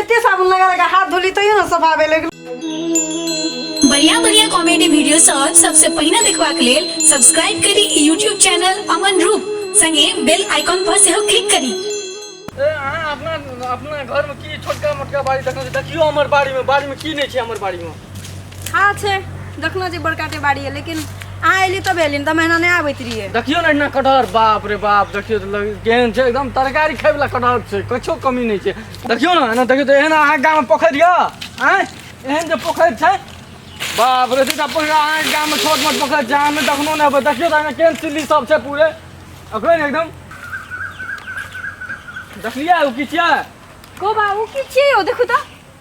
एते साबुन लगा लगा हाथ धोली तैयो ना सब आवे लगल बढ़िया बढ़िया कॉमेडी वीडियो सब सबसे पहिने देखबाक लेल सब्सक्राइब करी ई यूट्यूब चैनल अमन रूप संगे बेल आइकॉन पर सेहो क्लिक करी ए, अहाँ अपना अपना घरमे की छोटका मोटका बाड़ी देखने छी देखियो हमर बाड़ीमे बाड़ीमे की नहि छै हमर बाड़ीमे हँ छै देखलहुँ जे बड़का टे बाड़ी यऽ लेकिन अहाँ एली तब एली नहि तऽ महिना नहि आबैत रहियै देखियौ ने एहिना कटहर बाप रे बाप देखियौ तऽ लग- केहन छै एकदम तरकारी खाय वाला कटहर छै किछो कमी नहि छै देखियौ ने एना देखियौ तऽ एहन अहाँके गाममे पोखरि यऽ आँय एहन जे पोखरि छै बाप रे सीधा पोखरि अहाँके गाममे छोट मोट पोखरि छै अहाँ नहि देखनो नहि हेबै देखियौ तऽ एहिमे केहन सिल्ली सब छै पूरे ओकरे ने एकदम देखलियै ओ की छियै को बाबू की छियै यौ देखू तऽ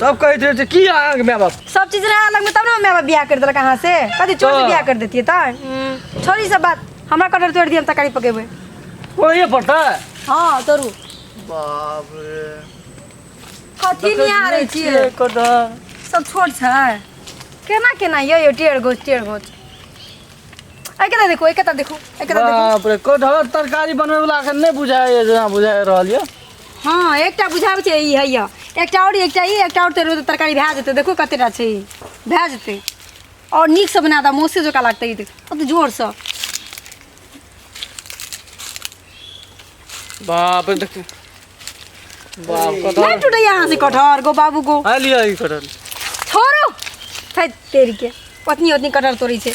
सब कहैत रहै छै की अहाँके माय बाप सब चीज रहे अलग में तब ना माय बाप बियाह कर देलक अहाँ से कथी चोर से हाँ। बियाह कर देतिए त हम्म, छोड़ी सब बात हमरा कटहर तोड़ दिए हम तकारी पकेबे ओहे पड़ता हाँ तोरू बाप रे कथी निहार है छिए कदा सब छोट छै केना केना यो यो टेढ़ गोछ टेढ़ गोछ ऐ केता देखो ऐ केता देखो ऐ केता देखो बाप रे कटहर तरकारी बनबै वाला अखन नहि बुझाय जेना बुझाय रहल यऽ हँ एकटा बुझाबै छै ई हैया एकटा आओर एकटा ई एकटा आओर तेरो तरकारी भए जेतै देखू कतेटा छै ई भए जेतै आओर नीकसँ बना दऽ मौसे जकाँ लागतै ई कतेक जोरसँ बाप देख बाप नहि कटहर टूटैए अहाँसँ कटहर गो बाबू गो आ लिअ ई कटहर छोड़ो थै तेरीके ओतनी ओतनी कटहर तोड़ै छै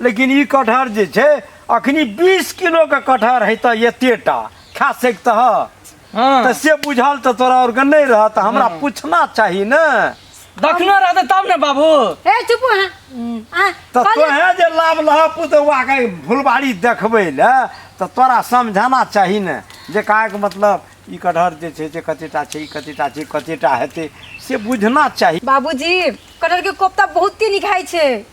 लेकिन ई कटहर जे छै अखनी बीस किलो के कटहर है तऽ एतेटा खा सकते ह हाँ तऽ से बुझल तऽ तोरा और के नहीं रह तऽ हमरा पूछना चाही ने दखनो रहते तब ने बाबू ए चुप हो आ तऽ कहलियै- तोहे जे लाभ लह पुतवा के फुलबाड़ी देखबै ले तऽ तोरा समझाना चाही ने जे कहा के मतलब ई कटहर जे छै से कतेटा छै ई कतेटा छै कतेटा हेतै से बुझना चाही बाबूजी कटहर के कोफ्ता बहुत ही निखाई छै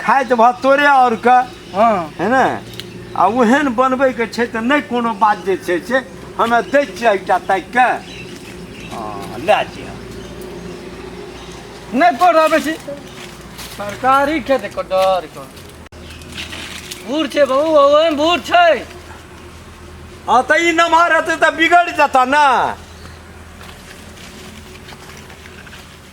खाइ तऽ भऽ तोरे आओर के हँ है ने आ ओहन बनबैके छै तऽ नहि कोनो बात जे छै से हमे दै छियै एकटा ताकि कऽ हँ, लए जइह नहि कोड आबै छी सरकारी खेत को डर को बूढ़ छै बहु ओहन बूढ़ छै हँ तऽ ई नमहर हेतै तऽ बिगड़ि जेतऽ ने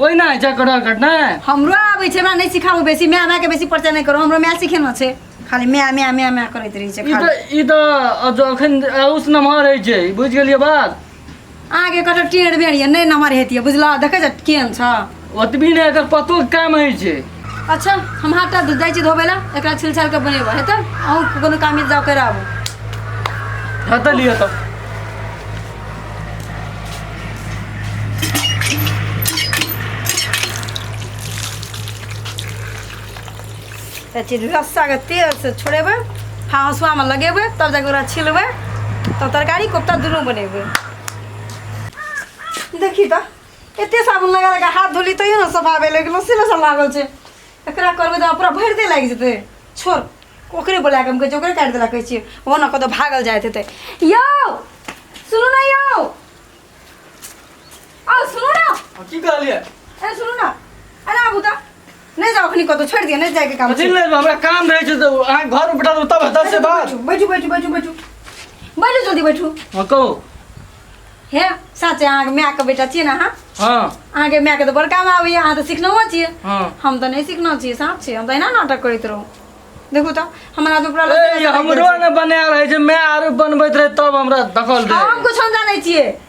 ओहिना होइ छै कटहर कटनाइ हमरो आबै छै हमरा नहि सिखाबू बेसी माय मायके बेसी परिचय नहि करू हमरो माय सिखेने छै खाली माय माय माय माय करैत रहै छै ई खाली। तऽ ई तऽ अब जो एखन उस नमहर रहै छै बुझि गेलियै बात अहाँके कटहर टेढ़ बेढ़ यऽ नहि नमहर हेतियै बुझलह देखै छ केहन छ ओतबी नहि एकर पतोके काम होइ छै अच्छा हम हाथ टा जाइ छी धोबै लए एकरा छिल छाल के बनेबो हेतै अहूँ कोनो काम जाउ कर आबू हटा लियो तो अथी रस्साके तेलसँ छोड़ेबै हाँसुआमे लगेबै तब जाके ओकरा छिलबै तब तरकारी कोफ्ता दुनू बनेबै देखी तऽ एते साबुन लगा लगा हाथ धोली तैयो ने सफा भेल लेकिन लस्सी लस्सा लागल छै एकरा करबै तऽ पूरा भरि दे लागि जेतै छोड़ ओकरे बोला कऽ हम कहै छियै ओकरे काटि देला कहै छियै ओ ने कतौ भागल जाइत हेतै यौ सुनू ने यौ आउ सुनू ने की कहलियै अरे सुनू ने अरे आबू तऽ नहीं जाओ अखनी कतो छोड़ दिए नहीं जाए के काम अथी ले हमरा काम रहे छै तो अहाँ घर में बैठा दो तब हेतै से बात बैठू बैठू बैठू बैठू बैठू जल्दी बैठू हां कहू हे साचे अहाँ के माय के बेटा छिए ना अहाँ हां अहाँ के माय के तो बड़ काम आवे अहाँ तो सीखनो छिए हां हम तो नहीं सीखनो छिए साफ छिए हम तो एना नाटक करैत रहू देखू तो हमरा तो पूरा ए हमरो ने बना रहे छै मैं आरो बनबैत रहे तब हमरा दखल दे हम कुछ हम जानै छिए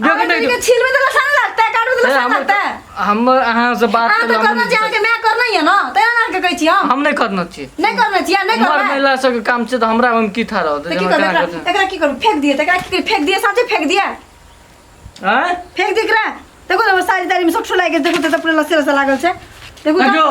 जो अगर कटे तुमके छीलबे तो लसन लगता है काटबे तो लसन लगता है हम अहाँ से बात अहाँ तो करना करना चाहिए कि मैं करना ही है ना तो यहाँ के कहै छी हम हम नहीं करना चाहिए नहीं करना चाहिए नहीं मर करना है। महिला सबके काम छै तऽ हमरा हम की था रहत तो की करबै एकरा एकरा की करू फेंक दिए तो एकरा की करू? फेंक दिए साँचे फेंक दिए आँय फेंक दिए एकरा देखो ना हमर साड़ी ताड़ी में सब ठुला गेल देखो तो पूरा लस्सी लस्सा लागल छै देखो ना। देखो